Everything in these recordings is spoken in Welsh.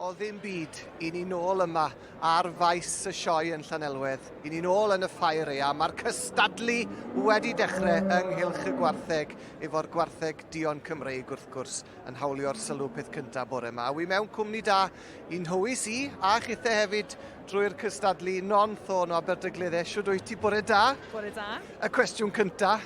o ddim byd, i ni nôl yma ar faes y sioe yn Llanelwedd. I ni nôl yn y ffair ea. Mae'r cystadlu wedi dechrau yng Nghylch y Gwartheg efo'r Gwartheg Dion Cymreig wrth gwrs yn hawlio'r sylw peth cyntaf bore yma. Wi mewn cwmni da i'n hywys i a chithe hefyd drwy'r cystadlu non thôn o Aberdyglydde. Siwd wyt ti? Bore da. Bore da. Y cwestiwn cyntaf,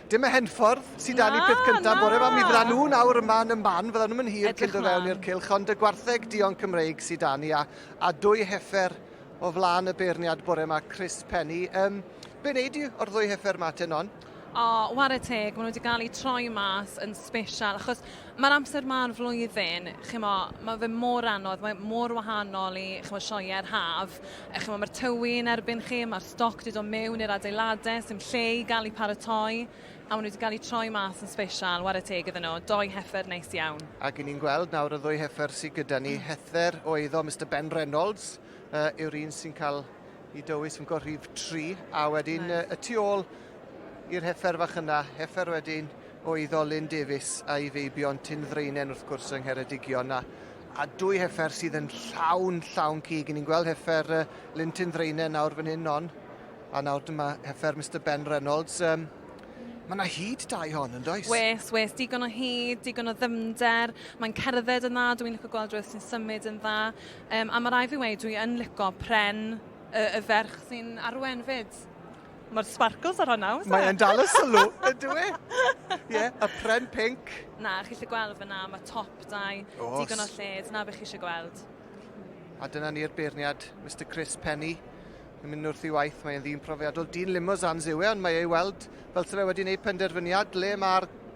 Dim y henffordd sydd dan ni peth cyntaf bore yma. Mi fydda nhw nawr yma yn y man, fydda nhw'n mynd hir cyn do fewn i'r cylch, ond y gwartheg dion Cymreig sydd dan ni, a, a dwy heffer o flaen y beirniad bore yma, Chris Penny. Um, be wneud i o'r ddwy heffer yma, Tenon? O, war y teg, maen nhw wedi cael eu troi mas yn special, achos Mae'r amser ma o'r flwyddyn, chimo, mae fe mor anodd, mae mor wahanol i chimo, sioeau'r haf. E, chimo, mae'r tywi yn erbyn chi, mae'r stoc wedi dod mewn i'r adeiladau, sy'n lle i gael ei paratoi, a maen nhw wedi cael eu troi mas yn special, ware teg iddyn nhw, doi heffer neis iawn. Ac i ni'n gweld nawr y ddwy heffer sydd gyda ni, hether o eiddo Mr Ben Reynolds uh, yw'r un sy'n cael i dywys yn gorrif tri, a wedyn nice. uh, y tu ôl i'r heffer fach yna, heffer wedyn oedd Olin Davies a'i feibion Tyn Ddraenen wrth gwrs yng Ngheredigion a, a dwy heffer sydd yn llawn, llawn cig. Ni'n gweld heffer uh, Lyn Tyn Ddraenen nawr fan hyn on, a nawr dyma heffer Mr Ben Reynolds. Um, Mae yna hyd dau hon yn does? Wes, wes, digon o hyd, digon o ddymder. Mae'n cerdded yn dda, dwi'n licio gweld rhywbeth sy'n symud yn dda. Um, a mae rai fi wei, dwi yn licio pren y, y ferch sy'n arwen fyd. Mae'r sparkles ar hwnna, oes e? Mae'n dal y sylw, ydw e? Ie, y pren pink. Na, chi eisiau gweld fyna, mae top dau, digon o lled, na beth chi eisiau gweld. A dyna ni'r beirniad, Mr Chris Penny. Yn mynd wrth i waith, mae'n ddyn profiadol. Dyn limos ansewe, ond mae ei weld fel sef wedi gwneud penderfyniad le mae'r